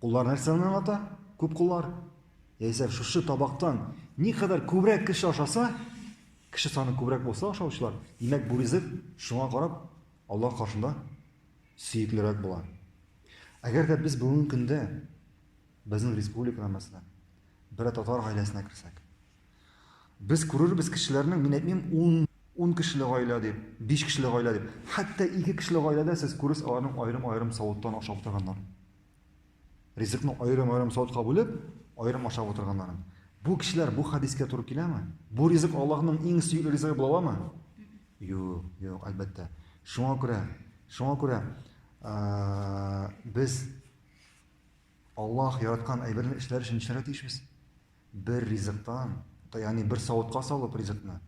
Куллар нәрсәне аңлата? Күп куллар. Яисә шушы табактан никадәр күбрәк кеше ашаса, кеше саны күбрәк булса ашаучылар, димәк бу ризык шуңа карап Аллаһ каршында сөеклерәк була. Әгәр дә без бүгенге көндә безнең республикада мәсәлән бер татар гаиләсенә керсәк, без күрербез кешеләрнең, мин әйтмим, 10 10 кешеле гаилә дип, 5 кешеле гаилә дип, хәтта 2 кешеле гаиләдә сез күрерсез аларның аерым-аерым савыттан ашап утырганнар. Ризыкны аерым-аерым савытка бүлеп, аерым ашап утырганнарын. Бу кешеләр бу хадискә туры киләме? Бу ризык Аллаһның иң сөекле ризыгы була аламы? Юк, юк, әлбәттә. Шуңа күрә, шуңа күрә без Аллаһ яраткан әйберне эшләр өчен эшләргә тиешбез. Бер ризыктан, ягъни бер савытка салып ризыкны,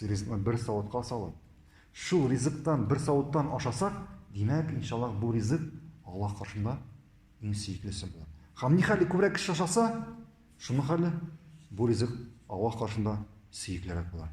ризыкны бер савытка салып, шул ризыктан бер савыттан ашасак, димәк, иншаллах, бу ризык Аллаһ каршында иң сөеклесе була. Һәм ни хәле күбрәк кеше ашаса, шуның хәле бу ризык Аллаһ каршында сөеклерәк була.